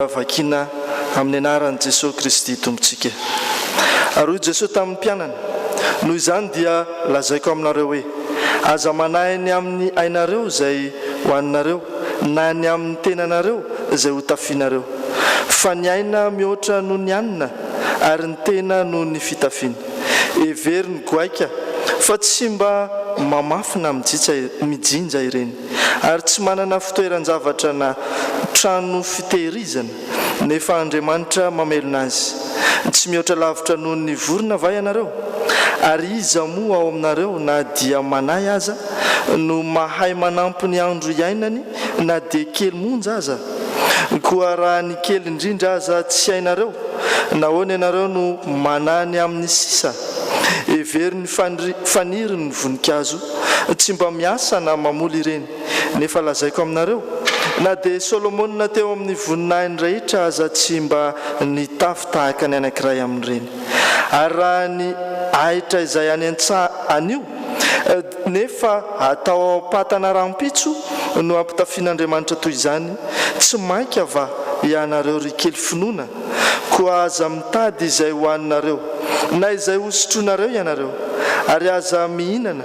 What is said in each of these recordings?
raha vakiana amin'ny anaran'i Jesoa Kristy Tompontsika. Ary hoy Jesoa tamin'ny mpianany, Noho izany dia lazaiko aminareo hoe, Aza manahy ny amin'ny ainareo izay hohaninareo, na ny amin'ny tenanareo izay hotafianareo. Fa ny aina mihoatra noho ny hanina, ary ny tena noho ny fitafiana. Heverin'ny goaika fa tsy mba mamafy na mijinja ireny. ary tsy manana fitoeran-javatra na trano fitehirizana, nefa Andriamanitra mamelona azy. Tsy mihoatra lavitra noho ny vorona va ianareo? Ary iza moa ao aminareo, na dia manahy aza, no mahay manampy ny andro iainany na dia kely monja aza? Koa raha ny kely indrindra aza tsy hainareo, nahoana ianareo no manahy ny amin'ny sisa? Hevero ny faniry ny voninkazo Tsy mba miasa na mamoly ireny. Nefa lazaiko aminareo, Na dia Solomona teo amin'ny voninahiny rehetra aza tsy mba nitafy tahaka ny anankiray amin'ireny. Ary raha ny ahitra izay any an-tsaha anio, nefa atao ao am-patana rahampitso, no ampitafian'Andriamanitra toy izany, tsy mainka va ianareo ry kely finoana Koa aza mitady izay hohaninareo, na izay hosotroinareo ianareo, ary aza mihinana,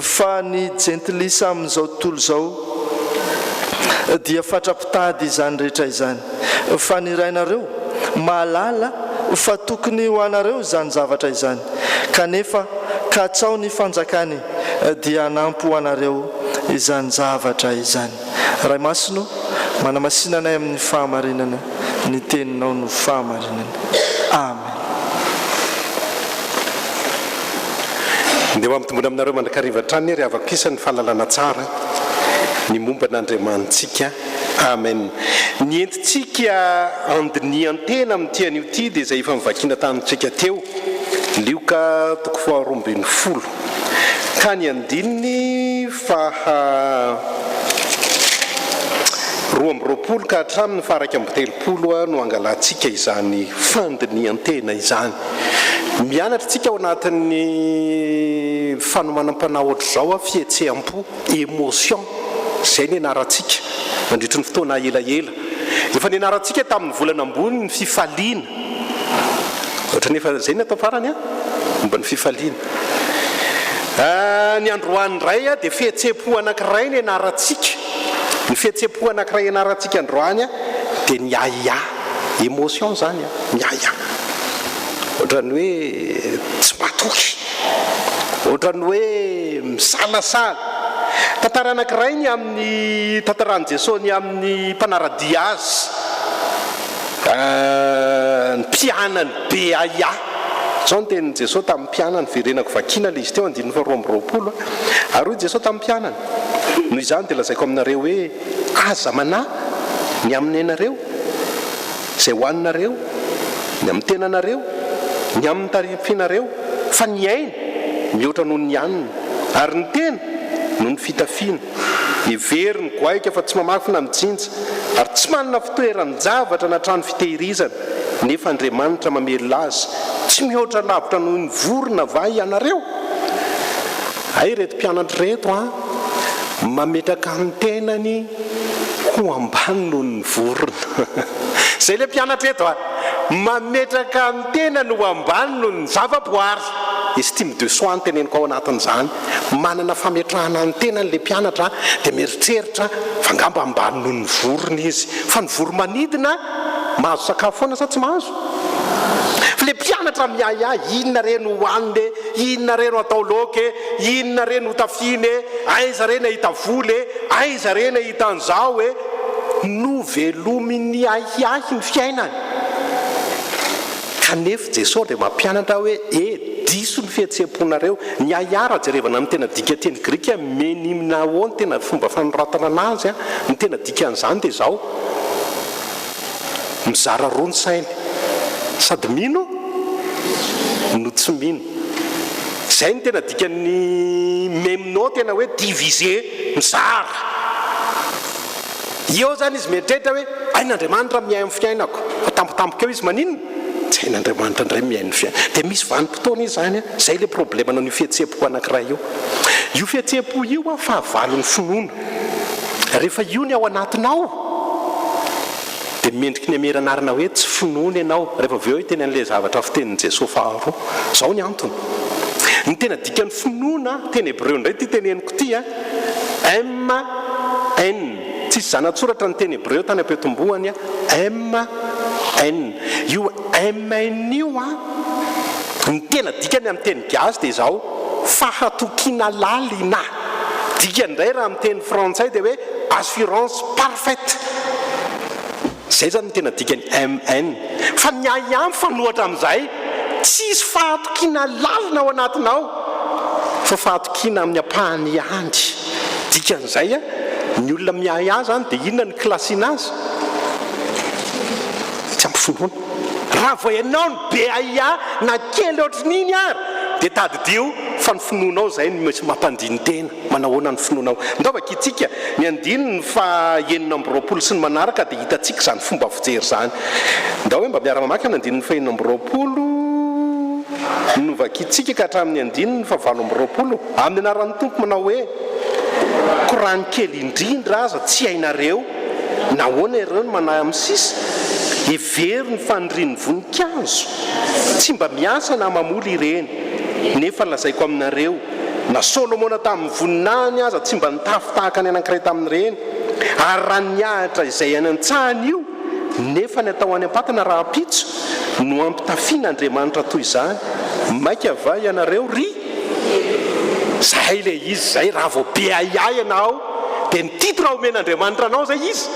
fa ny Jentilisa amin'izao tontolo izao dia fatra-pitady izany rehetra izany, fa ny Rainareo mahalala fa tokony ho anareo izany zavatra izany, kanefa katsaho ny fanjakany dia hanampo anareo izany zavatra izany. Ray Masina ô, manamasina anay amin'ny fahamarinana, ny Teninao no fahamarinana. Amen. Ndeha ho ampitomboina aminareo mandrakariva hatrany ry havako isa ny fahalalana tsara ny momba an'Andriamanitsika. Amen. Ny entintsika andinihan-tena amin'ity anio ity dia izay efa novakiana tamintsika teo, Lioka toko faharoa ambin'ny folo ka ny andininy faha roa amby roapolo ka hatramin'ny faha iraika amby telopolo no hangalantsika izany fandinihan-tena izany. Mianatra tsika ao anatin'ny fanomanam-panahy ohatr'izao, fihetseham-po, emotion, izay nianarantsika nandritry ny fotoana elaela. Efa nianarantsika tamin'ny volana ambony ny fifaliana. Ohatran'ny efa izay ny atao farany an! Momba ny fifaliana. Ny androany indray dia fihetsem-po anankiray no ianarantsika. Ny fihetsem-po anankiray ianarantsika androany dia ny ahiahy. Emotion izany an, ny ahiahy. Ohatran'ny hoe tsy matoky. Ohatran'ny hoe misalasala. Tantara anankiray ny amin'ny, tantaran'i Jesoa ny amin'ny mpanara-dia azy. Ny mpianany be ahiahy. Izao ny tenin'i Jesoa tamin'ny mpianany, Verenako vakiana ilay izy teo, andininy faharoa amby roapolo. Ary hoy Jesoa tamin'ny mpianany, Noho izany dia lazaiko aminareo hoe, Aza manahy ny amin'ny ainareo, izay hohaninareo, ny amin'ny tenanareo, ny amin'ny tarifinareo, fa ny aina mihoatra noho ny hanina, ary ny tena noho ny fitafiana. Hevero ny goaika fa tsy mamafa na mijinja, ary tsy manana fitoeran-javatra na trano fitehirizana, nefa Andriamanitra mamelona azy, tsy mihoatra lavitra noho ny vorona va ianareo? Hay ireto mpianatra ireto an! Mametraka ny tenany ho ambany noho ny vorona. Izay ilay mpianatra eto an! Mametraka ny tenany ho ambany noho ny zava-boary. Estime de soi no teneniko ao anatin'izany. manana fametrahana ny tenany ilay mpianatra dia mieritreritra fa angamba ambany noho ny vorona izy, fa ny voromanidina mahazo sakafo foana sa tsy mahazo? Fa ilay mpianatra miahiahy, inona re no hohanina e, inona re no atao laoka e, inona re no hotafiana e, aiza re ny ahita vola e, aiza re ny ahita an'izao e. Novelomin'ny ahiahy ny fiainany. Kanefa Jesosy dia mampianatra hoe, E, diso ny fihetseham-ponareo. Ny a ia raha jerevana ny tena dika teny grika me ny mna o ny tena fomba fanoratana anazy a, ny tena dikan'izany dia izao, mizara roa ny sainy, sady mino no tsy mino. Izay ny tena dikan'ny me mno tena hoe diviser, mizara. Eo izany izy mieritreritra hoe, Aina Andriamanitra mihaino ny fiainako. Atampotampoka eo izy, maninona? Tsy hain'Andriamanitra indray mihaino ny fiainako. Dia misy vanim-potoana izy izany, izay ilay problemanao an'io fihetseham-po anankiray io. Io fihetseham-po io an, fahavalon'ny finoana. Rehefa io ny ao anatinao, dia mendriky ny Amera anarana hoe tsy finoana ianao. Rehefa avy eo hiteny an'ilay zavatra fitenin'i Jesoa faharoa. Izao ny antony. Ny tena dikan'ny finoana, teny hebreo indray ity teneniko ity an. MN, Tsisy zana-tsoratra ny teny hebreo tany am-peo-tombohany. MN, Io MN io an, ny tena dikany amin'ny teny gasy dia izao, fahatokiana lalina. Dikany indray raha amin'ny teny frantsay dia hoe assurance parfaite. Zay zany no tena dikany MN. Fa ny ahy ihany mifanohatra amin'izay, tsisy fahatokiana lalina ao anatinao fa fahatokiana amin'ny ampahany ihany. Dikan'izay an, ny olona miahy ahy zany dia inona no classina azy? Tsy ampy finoana. Raha vao ianao no be ahiahy na kely ohatrin'iny ary dia tadidio fa ny finoanao izay no mety mampandini-tena. Manahoana ny finoanao? Ndaoba kitsika ny andininy faha enina amby roapolo sy ny manaraka dia hitantsika izany fomba fijery izany. Ndao hoe mba miara mamaky ny andininy faha enina amby roapolo novakitsika ka hatramin'ny andininy faha valo amby roapolo. Amin'ny anaran'ny Tompo manao hoe, Korany kely indrindra aza tsy hainareo, nahoana ireo no manahy amin'ny sisa? Hevero ny fanirian'ny voninkazo? Tsy mba miasa na mamoly ireny. Nefa lazaiko aminareo, Na Solomona tamin'ny voninahiny aza tsy mba nitafy tahaka ny anankiray tamin'ireny. Ary raha nihahatra izay any an-tsahany io, nefa ny atao any am-patana rahampitso no ampitafian'Andriamanitra toy izany, maika va ianareo ry Zay ilay izy izay raha vao be ahiahy ianao dia ny titre omen'Andriamanitra anao izay izy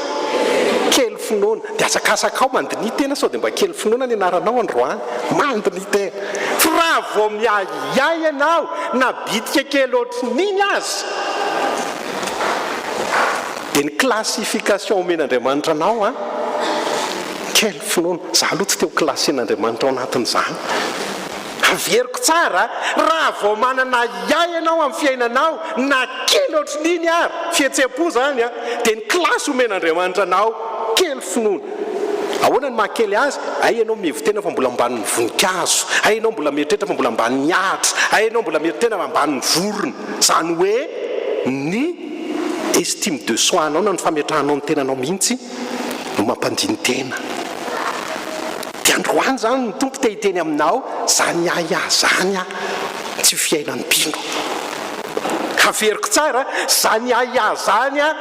kely finoana dia asakasakao mandiniha tena sao dia mba kely finoana ny anaranao androany mandiniha tena fa raha vao miahiahy Yah ianao na bitika kely ohatrin'iny aza dia ny classification omen'Andriamanitra anao an! Quelle finoana! Za aloha tsy te ho classen'Andriamanitra ao anatin'izany. Averiko tsara a! Raha vao manana Yah ianao amin'ny fiainanao na kely ohatrin'iny ary, fihetseham-po izany an, dia ny classe omen'Andriamanitra anao, quelle finoana! Ahoana ny maha kely azy? Hay ianao mihevi-tena fa mbola ambanin'ny voninkazo, hay ianao mbola mieritreritra fa mbola ambanin'ny ahitra, hay ianao mbola mieri-tena fa ambanin'ny vorona. Izany hoe ny estime de soi-nao na ny fametrahanao ny tenanao mihitsy no mampandini-tena. Dia androany izany ny Tompo te hiteny aminao, Izany ahy aho izany aho, tsy fiainan'ny mpino. Haveriko tsara, Izany ahy aho izany aho,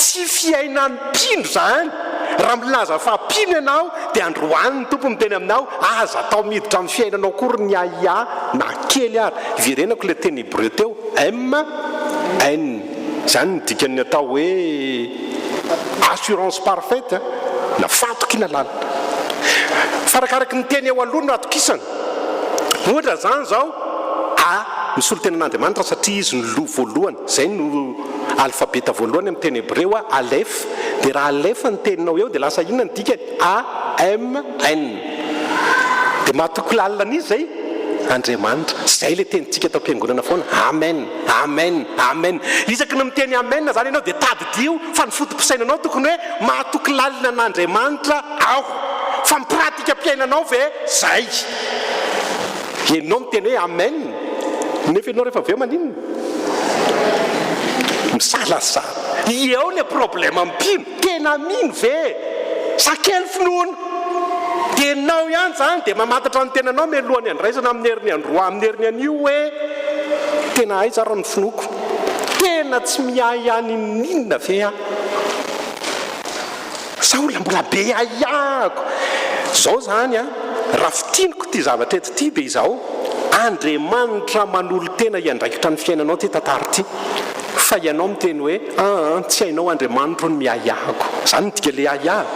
tsy fiainan'ny. Mpino izany! Raha milaza fa mpino ianao dia androany ny Tompo miteny aminao, aza atao miditra amin'ny fiainanao akory ny ahiahy na kely ary. Iverenako ilay teny hebreo teo, M, N. Izany no dikan'ny atao hoe assurance parfaite na fahatokiana lalina. Fa arakaraky ny teny eo aloha no atokisana. Ohatra izany izao, A, misolo tena an'Andriamanitra satria Izy no loha voalohany. Izay no alfabeta voalohany amin'ny teny hebreo, Alef, dia raha Alef ny teninao eo dia lasa inona ny dikany? AMN. Dia mahatoky lalina an'iza izay? Andriamanitra. Izay ilay tenintsika tao am-piangonana foana, Amen, Amen, Amen. Isaky ny miteny Amen izany ianao dia tadidio fa ny foto-pisainanao tokony hoe mahatoky lalina an'Andriamanitra aho. Fa ny pratikam-piainanao ve izay? Ianao miteny hoe Amen nefa ianao rehefa avy eo maninona? Misalasa. Ie ao le problème mpino. Tena mino ve? Sa kely finoana? Tenao ihany zany de mamantatra ny tenanao mialohan'ny handraisana amin'ny herin'ny androany amin'ny herin'ny anio hoe tena aiza ary ny finoako? Tena tsy miahy any n'inona ve aho? Sa olona mbola be ahiahiko zao zany a? Raha fintiniko ity zavatra eto ity dia izao, Andriamanitra manolo-tena hiandraikitra ny fiainanao ity tantara ity, fa ianao miteny hoe, aa tsy hainao Andriamanitro ny miahiahiko. Zany no dika le ahiahy.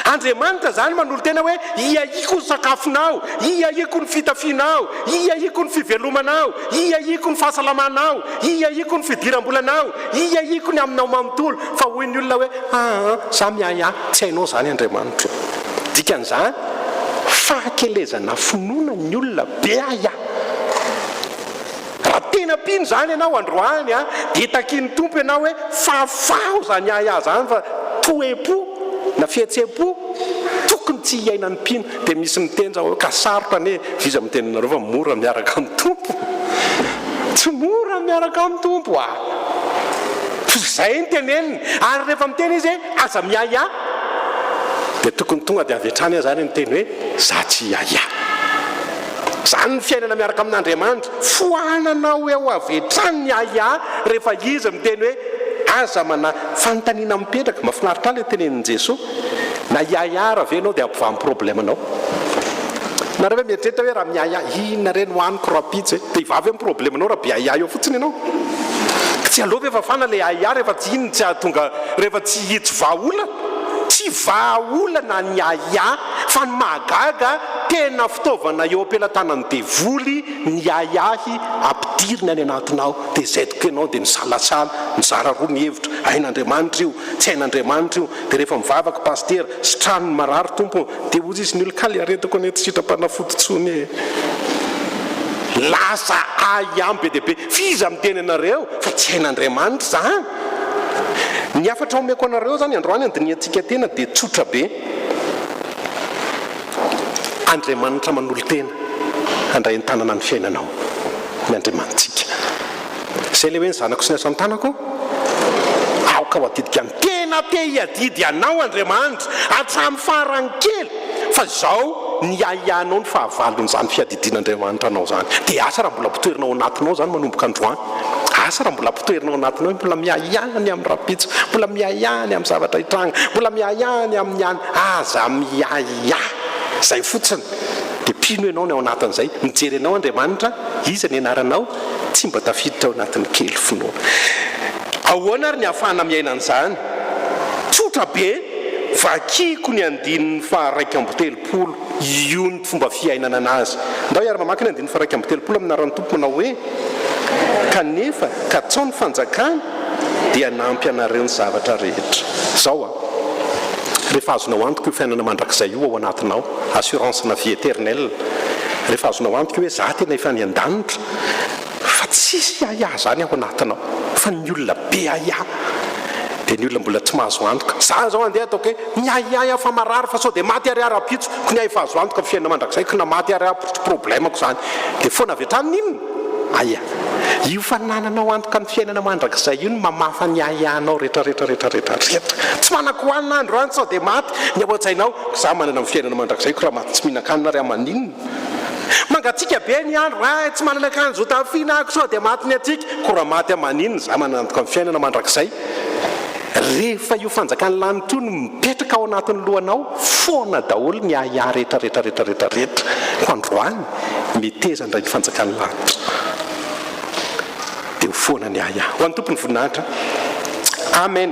Andriamanitra zany manolo-tena hoe, hiahiako ny sakafonao, hiahiako ny fitafianao, hiahiako ny fivelomanao, hiahiako ny fahasalamanao, hiahiako ny fidiram-bolanao, hiahiako ny aminao manontolo. Fa hoy ny olona hoe, Aa, za miahy ahy. Tsy hainao izany Andriamanitro. Dikan'izany, fahakelezana finoana ny olona be ahy ahy. Raha tena mpino izany ianao androany an, dia takian'ny Tompo ianao hoe, Fahafaho izany ahy ahy izany fa toe-po na fihetsem-po tokony tsy hiainan'ny mpino. Dia misy miteny izao hoe, Ka sarotra anie e! Iza miteny aminareo fa mora miaraka amin'ny Tompo? Tsy mora ny miaraka amin'ny Tompo a! Tsy izay ny teneniny. Ary rehefa miteny izy hoe aza miahiahy, dia tokony tonga dia avy hatrany aza ary ny teny hoe za tsy hiahiahy. Izany ny fiainana miaraka amin'Andriamanitra. Foananao eo avy hatrany ny ahiahy rehefa izy miteny hoe aza manahy. Fanontaniana mipetraka. Mahafinaritra ahy ilay tenenin'i Jesoa. Na hiahiara ve ianao dia ampivaha amin'ny problème anao. Nareo ve mieritreritra hoe raha miahiahy inona re no haniko rahampitso e? Dia hivaha ve ny problème anao raha mpiahiahy eo fotsiny ianao? Ka tsy aleo ve fafana ilay ahiahy rehefa tsy inona tsy hahatonga rehefa tsy hi tsy vaha olana? Tsy vaha olana ny ahiahy fa ny mahagaga tena fitaovana eo am-pelatanan'ny devoly ny ahiahy ampidiriny any anatinao dia izay tokoa ianao dia misalasala mizara roa ny hevitra hain'Andriamanitra io tsy hain'Andriamanitra io Dia rehefa mivavaka Pasitera, sitrano ny marary Tompo ô, dia hozy izy ny olona kay aretako anie tsy sitram-panafody tsony ee. Lasa ahy am be dia be, f'iza miteny anareo fa tsy hain'Andriamanitra zany? Ny hafatra omeko anareo zany androany handinihantsika tena dia tsotra be, Andriamanitra manolo-tena handray an-tanana ny fiainanao ny Andriamanitsika. Izay ilay hoe ny zanako sy ny asan-tanako aoka ho adidiko ihany. Tena te hiadidy anao Andriamanitra hatramin'ny farany kely fa izao niahiahinao ny fahavalon'izany fiadidian'Andriamanitra anao izany. Dia asa raha mbola ampotoerina ao anatinao izany manomboka androany. Asa raha mbola ampotoerina ao anatinao hoe mbola miahiahy ny amin'ny rahampitso, mbola miahiahy ny amin'ny zavatra hitranga, mbola miahiahy ny amin'ny any. Aza miahiahy. Izay fotsiny. Dia mpino ianao ny ao anatin'izay. Mijery anao Andriamanitra, iza ny anaranao? tsy mba tafiditra ao anatin'ny kely finoana. Ahoana ary ny ahafahana miaina an'izany? Tsotra be, vakiko ny andininy faharaika amby telopolo, io ny fomba fiainana an'azy. Ndao hiara mamaky ny andininy faharaika amby telopolo amin'Aran'ny Tompo manao hoe, Kanefa, katsaho ny fanjakany, dia hanampy anareo ny zavatra rehetra. Izao an! Rehefa azonao antoka io fiainana mandrakizay io ao anatinao, assurance ana vie eternelle, rehefa azonao antoka io hoe za tena efa any an-danitra, fa tsisy yaya izany ao anatinao, fa ny olona be yaya dia ny olona mbola tsy mahazo antoka. Za izao andeha ataoko hoe miahiahy aho fa marary fa sao dia maty ary aho rahampitso, ko ny ahy efa azo antoka ny fiainana mandrakizay, ko na maty ary aho problème-ko izany dia foana avy hatrany, inona? Aia. Io fanananao antoka ny fiainana mandrakizay io no mamafa ny ahiahinao retraretra retraretra rehetra. Tsy manan-kohanina andro any sao dia maty ny ao an-tsainao. Za manana ny fiainana mandrakizaiko raha maty tsy mihinan-kanina ary amaninona. Mangatsiaka be ny andro any tsy manana akanjo hotafiana ako sao dia maty ny hatsiaka. Ko raha maty amaninona za manana antoka ny fiainana mandrakizay. Rehefa io fanjakan'ny lanitra io no mipetraka ao anatin'ny lohanao foana daholo ny ahiahy retraretra retraretra rehetra andro any. meteza ndray ny fanjakan'ny lanitra eo foana ny ahy ahy ho an'ny tompon'ny voninahitra amen